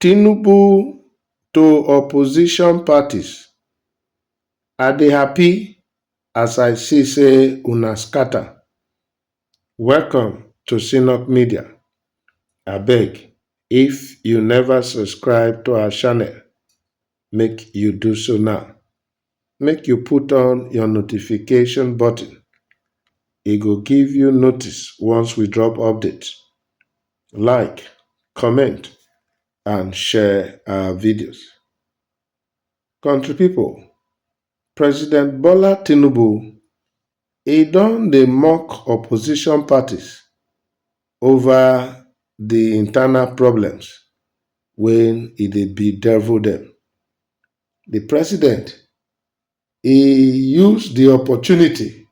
Tinubu to opposition parties, I dey happy as I see say una scatter, welcome to Synup Media, abeg if you never subscribe to our channel make you do so now. make you put on your notification button. E go give you notice once we drop update. Like, comment, and share our videos. Country people, President Bola Tinubu, he don dey mock opposition parties over the internal problems when e dey bedevil them. di president e use di opportunity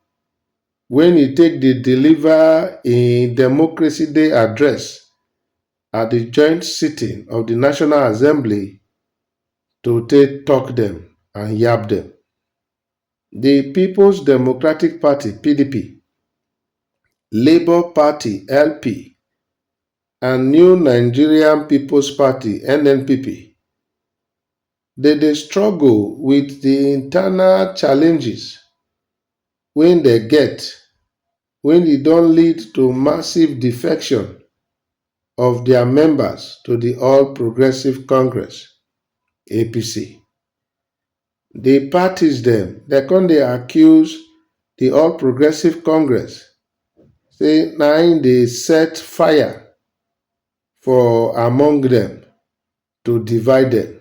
wen e take dey deliver im Democracy Day Address at di joint sitting of di National Assembly to take tok dem and yab dem. Di Peoples Democratic Party, PDP, Labour Party, LP, and new nigerian peoples party nnpp dey dey struggle with the internal challenges wey dey get wey dey don lead to massive defection of their members to the all progressive congress, apc. di parties dem dem come dey accuse di All Progressives Congress say na im dey set fire for among dem to divide dem.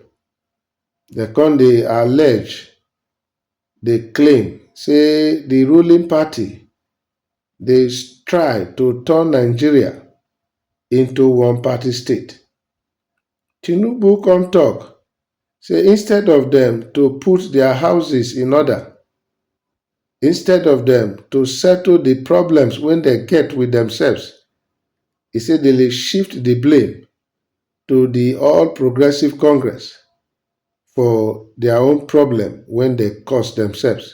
Dem come dey allege, dey claim say di ruling party dey try to turn Nigeria into one party state. Tinubu come talk say instead of dem to put their houses in order, instead of dem to settle the problems wey dem get with themselves, e say dem dey shift the blame to the All Progressive Congress for their own problem wey dem cause themselves.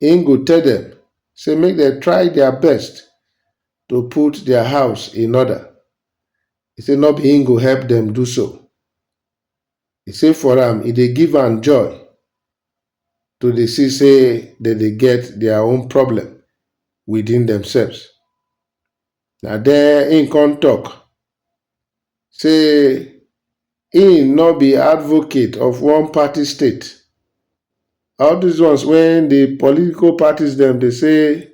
im go tell dem say make dem try dia best to put dia house in order, e say no be im go help dem do so. E say for am, e dey give am joy to dey see say dem dey get dia own problem within demselves. Na there im come talk say im no be advocate of one party state. All these ones wey the political parties dem dey say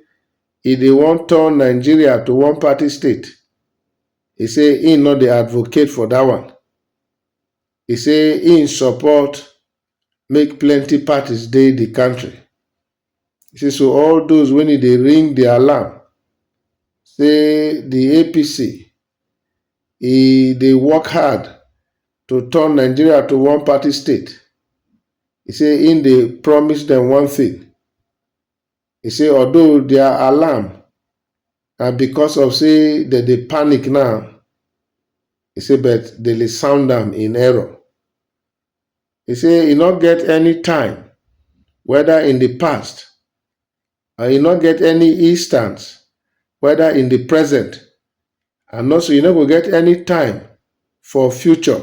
e dey wan turn Nigeria to one party state, e say im no dey advocate for that one. E say im support make plenty parties dey di kontri. E say so all those wen e dey ring di alarm say di APC e dey work hard to turn Nigeria to one party state. E say im dey promise dem one thing, e say although their alarm na because of say dem dey panic now, e say but dem dey sound am in error. He say e no get any time, whether in the past and e no get any instance, whether in the present and also e no go get any time for future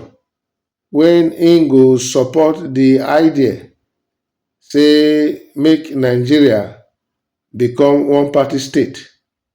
when im go support the idea say make Nigeria become one-party state.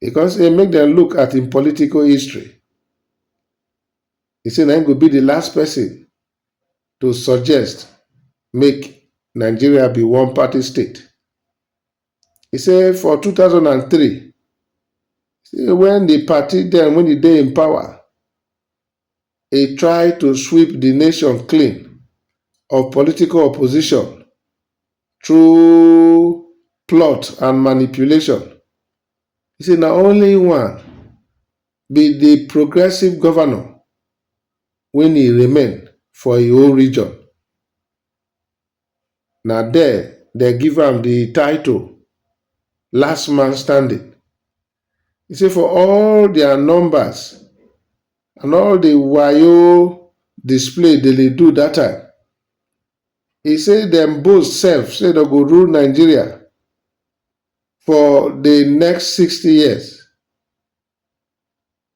He come say make dem look at im political history. He say na im go be di last person to suggest make Nigeria be one party state. He say for two thousand and three, say wen di party dem wey dey in power e try to sweep di nation clean of political opposition through plot and manipulation, e say na only one be di progressive govnor wen e remain for e own region, na there dem give am di title last man standing. He say for all their numbers and all the wayo display they dey do that time, he say dem boast self say dem go rule Nigeria for the next 60 years.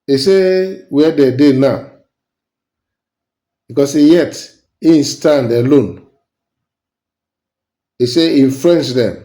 He say where they dey now because yet he stand alone. He say he friends dem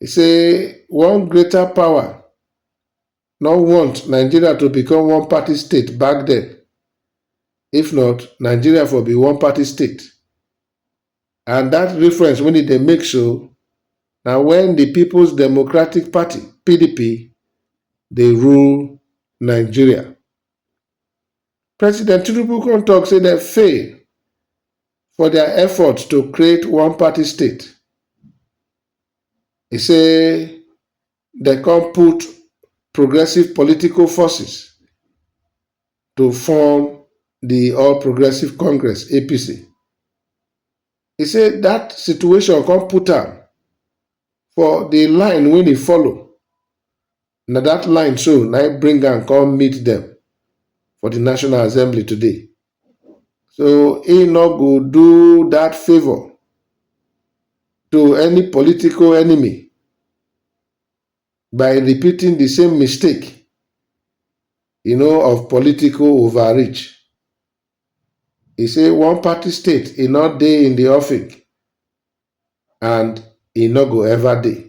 He say one greater power no want Nigeria to become one party state back then. If not, Nigeria for be one party state. And that reference when they make so now when the People's Democratic Party, PDP, they rule Nigeria. President Tinubu come talk say dem fail for their effort to create one party state. He say dem come put progressive political forces to form the All Progressive Congress APC. He say that situation come put am for the line wey e follow Na dat line so na im bring am come meet dem for di National Assembly today. So he no go do dat favour to any political enemy by repeating di same mistake you know of political overreach. He say one party state e no dey in di offing and e no go ever dey.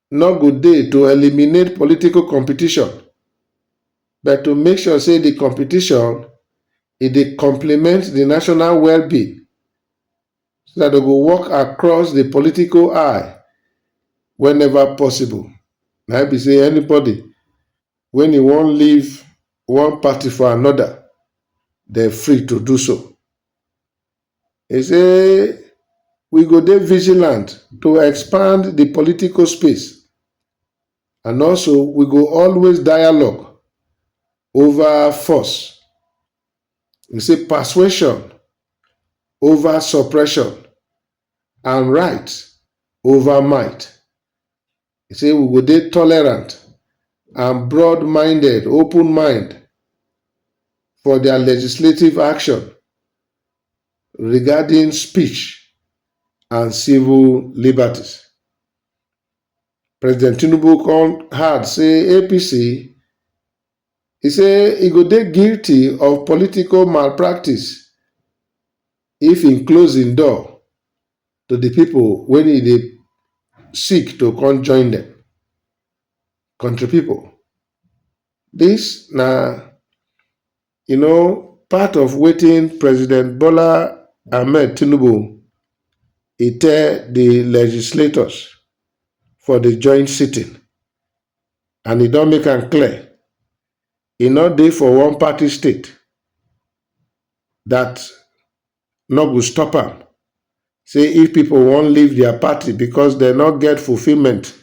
no go dey to eliminate political competition but to make sure say di competition e dey complement di national well-being so dat dem go work across di political aisle whenever possible. Na im be say anybody wen e wan leave one party for anoda, dem free to do so. E say we go dey vigilant to expand di political space and also we go always dialogue ova force, e say persuasion ova suppression and right ova might. He say we go dey tolerant and broad-minded, open mind, for their legislative action regarding speech and civil liberties. President Tinubu come hard say APC He say he go dey guilty of political malpractice if im close im door to di people wen e dey seek to come join dem country people dis na you know part of wetin president bola ahmed tinubu e tell di legislators for di joint sitting and e don make am clear e no dey for one party state dat no go stop am say if pipo wan leave dia party becos dem no get fulfilment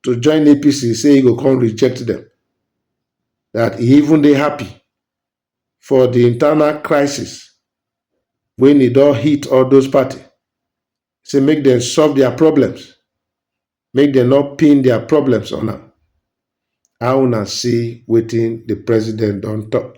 to join apc say e go come reject dem, dat e even dey happy for di internal crisis wen e don hit all those party say make dem solve dia problems make dem no pin dia problems on am, how una see wetin di president don tok?